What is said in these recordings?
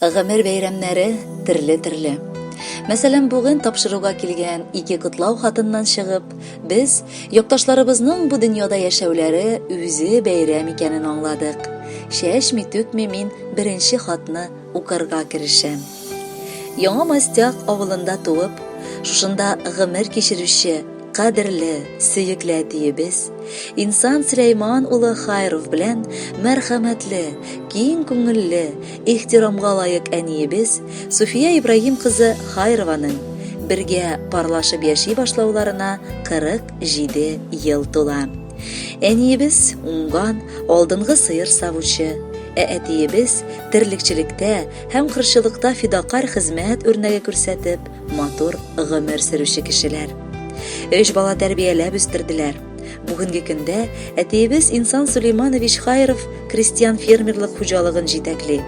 Гомер бәйрәмнәре терле-терле. Мәсәлән, бүген тапшыруга килгән ике котлау хатыннан чыгып, без якташларыбызның бу дөньяда яшәүләре үзе бәйрәм икәнен аңладык. Чәчми-түкми мин беренче хатны укырга керешәм. Яңа Мастяк авылында туып, шушында гомер кичерүче Кадерле, сөекле әтиебез Инсан Сөләйман улы Хайров белән мәрхәмәтле, киң күңелле, ихтирамга лаек әниебез Суфия Ибраһим кызы Хайрованың бергә парлашып яши башлауларына 47 ел тула. Әниебез уңган, алдынгы сыер савучы, ә әтиебез терлекчелектә һәм кырчылыкта фидакарь хезмәт үрнәге күрсәтеп, матур гомер сөрүче кешеләр. Өч бала тәрбияләп үстерделәр. Бүгенге көндә әтиебез Инсан Сулейманович Хайров крестьян фермерлык хуҗалыгын җитәкли.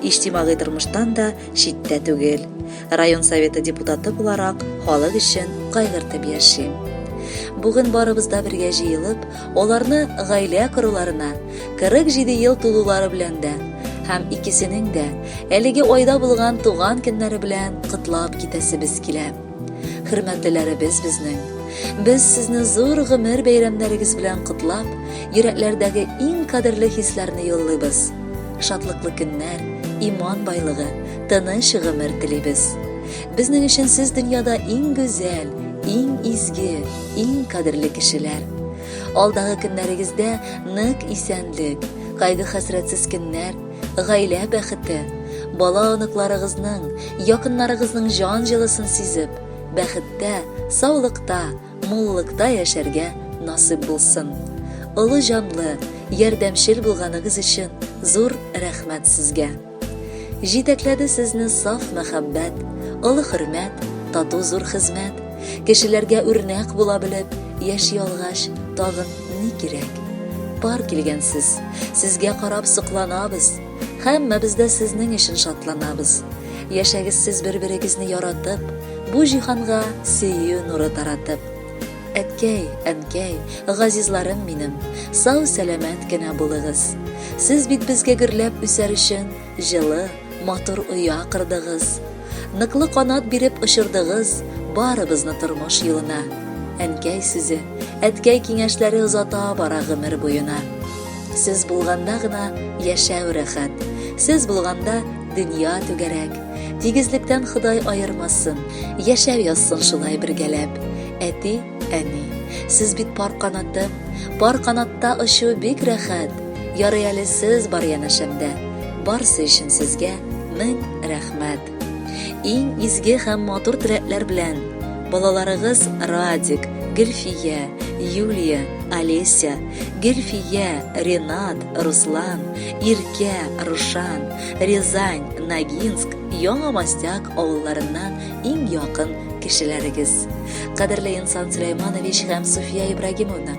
Иҗтимагый тормыштан да читтә түгел. Район советы депутаты буларак халык өчен кайгыртып яши. Бүген барыбыз да бергә җыелып, Аларны гаилә коруларына 47 ел тулулары белән дә һәм икесенең дә әлеге айда булган туган көннәре белән котлап китәсебез килә. Хөрмәтлеләребез безнең, без сезне зур гомер бәйрәмнәрегез белән котлап, йөрәкләрдәге иң кадерле хисләрне юллыйбыз. Шатлыклы көннәр, иман байлыгы, тыныч гомер телибез. Безнең өчен сез дөньяда иң гүзәл, иң изге, иң кадерле кешеләр. Алдагы көннәрегездә нык исәнлек, кайгы-хәсрәтсез көннәр, гаилә бәхете, бала-оныкларыгызның, якыннарыгызның җан җылысын сизеп, бәхеттә, саулыкта, муллыкта яшәргә насыйп булсын. Олы җанлы, ярдәмчел булганыгыз өчен зур рәхмәт сезгә! Җитәкләде сезне саф мәхәббәт, олы хөрмәт, тату зур хезмәт. Кешеләргә үрнәк була белеп, яши алгач, тагын ни кирәк? Пар килгәнсез, сезгә карап сокланабыз. Һәммәбез дә сезнең өчен шатланабыз. Яшәгез сез бер-берегезне яратып, бу җиһанга сөю нуры таратып. Әткәй, әнкәй, газизларым минем, сау-сәламәт кенә булыгыз. Сез бит безгә гөрләп үсәр өчен җылы, матур оя кырдыгыз. Ныклы канат биреп очырдыгыз барыбызны тормыш юлына. Әнкәй сүзе, әткәй киңәшләре озата бара гомер буена. Сез булганда гына яшәү рәхәт. Сез булганда дөнья түгәрәк. Тигезлектән Ходай аермасын, яшәп язсын шулай бергәләп. Әти, әни, сез бит пар канаты, пар канатта очу бик рәхәт. Ярый әле сез бар янәшәмдә. Барсы өчен сезгә мең рәхмәт. Иң изге һәм матур теләкләр белән балаларыгыз Радик, Гөлфия, Юлия, Олеся, Гөлфия, Ренат, Руслан, Иркә, Рушан, Рязань, Ногинск, Яңа Мостяк авылларыннан иң якын кешеләрегез. Кадерле Инсан Сөләйманович һәм Суфия Ибрагимовна,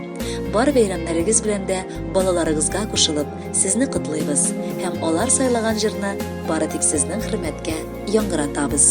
бар бәйрәмнәрегез белән дә балаларыгызга кушылып, сезне котлыйбыз һәм алар сайлаган җырны бары тик сезнең хөрмәткә яңгыратабыз.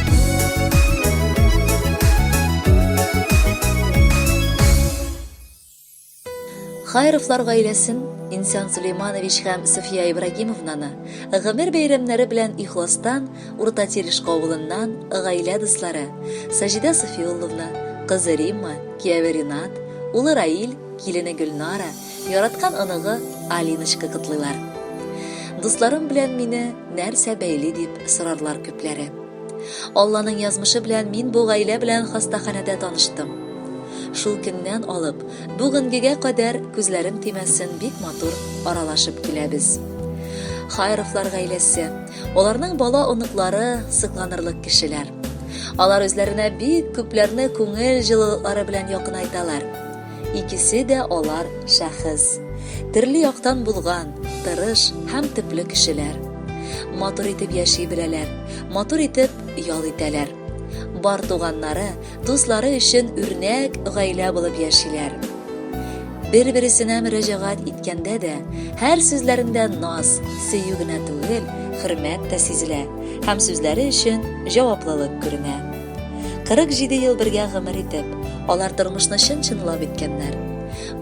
Хайровлар гаиләсен Инсан Сулейманович һәм Суфия Ибрагимовнаны гомер бәйрәмнәре белән ихластан Урта Терешка авылыннан гаилә дуслары Саҗидә Софиулловна, кызы Римма, кияве Ринат, улы Раил, килене Гөлнара, Яраткан оныгы Алиночка котлыйлар. Дусларым белән мине нәрсә бәйли дип сорарлар күпләре. Алланың язмышы белән мин бу гаилә белән хастаханәдә таныштым. Шул көннән алып, бүгенгегә кадәр күзләрем тимәсен бик матур аралашып киләбез. Хайровлар гаиләсе, аларның бала оныклары сыкланырлык кешеләр. Алар үзләренә бик күпләрне күңел җылылыклары белән якынайталар. Икесе дә алар шәхес. Төрле яктан булган, тырыш һәм төпле кешеләр. Матур итеп яши беләләр, матур итеп ял итәләр. Бар туганнары, дуслары өчен үрнәк гаилә булып яшиләр. Бер-бересенә мөрәҗәгать иткәндә дә, һәр сүзләрендә наз, сөю генә түгел, хөрмәт тә сизелә һәм сүзләре өчен җаваплылык күренә. 47 ел бергә гомер итеп, алар тормышны чын-чынлап иткәннәр.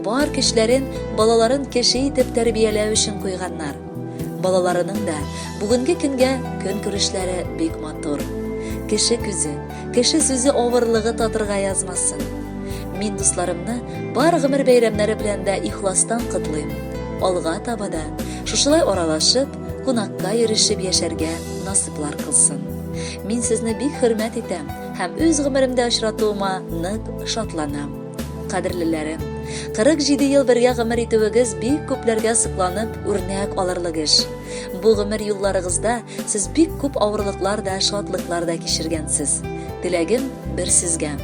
Бар көчләрен балаларын кеше итеп тәрбияләү өчен куйганнар. Балаларының да бүгенге көнгә көн күрешләре бик матур. Кеше күзе, кеше сүзе авырлыгы татырга язмасын. Мин дусларымны бар гомер бәйрәмнәре белән дә ихластан котлыйм. Алга таба да шушылай аралашып, кунакка йөрешеп яшәргә насыйп исбатлар кылсын. Мин сезне бик хөрмәт итәм һәм үз гомеремдә очратуыма нык шатланам. Кадерлеләрем, 47 ел бергә гомер итүегез бик күпләргә сокланып, үрнәк алырлык эш. Бу гомер юлларыгызда сез бик күп авырлыклар да, шатлыклар да кичергәнсез. Теләгем бер сезгә.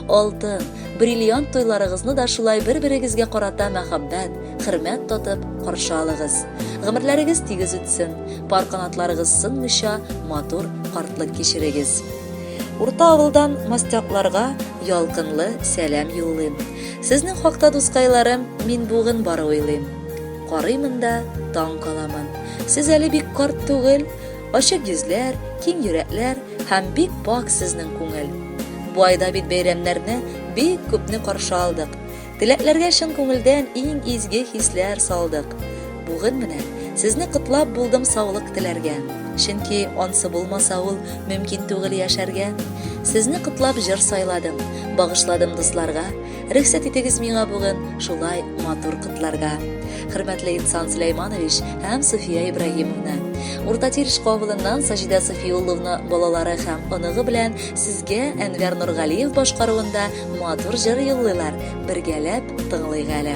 Алтын, бриллиант туйларыгызны да шулай бер-берегезгә карата мәхәббәт, хөрмәт тотып каршы алыгыз. Гомерләрегез тигез үтсен, пар канатларыгыз сынмыйча матур картлык кичерегез. Урта авылдан мастякларга ялкынлы сәлам юллыйм. Сезнең хакта дускайларым мин бүген бары уйлыйм. Карыймын да таң каламын. Сез әле бик карт түгел, ачык йөзләр, киң йөрәкләр һәм бик пак сезнең күңел. Бу айда бит бәйрәмнәрне бик күпне каршы алдык. Теләкләргә чын күңелдән иң изге хисләр салдык. Бүген менә сезне котлап булдым саулык теләргә. Чөнки ансы булмаса ул мөмкин түгел яшәргә. Сезне котлап җыр сайладым, багышладым дусларга. Рөхсәт итегез миңа бүген шулай матур котларга. Хөрмәтле Инсан Сөләйманович һәм Суфия Ибраһимовна. Урта Тиреш кавылыннан Саҗидә Софиулловна балалары һәм оныгы белән Сезгә Әнвәр Нургалиев башкаруында матур җыр юллыйлар, бергәләп тыңлыйк әле.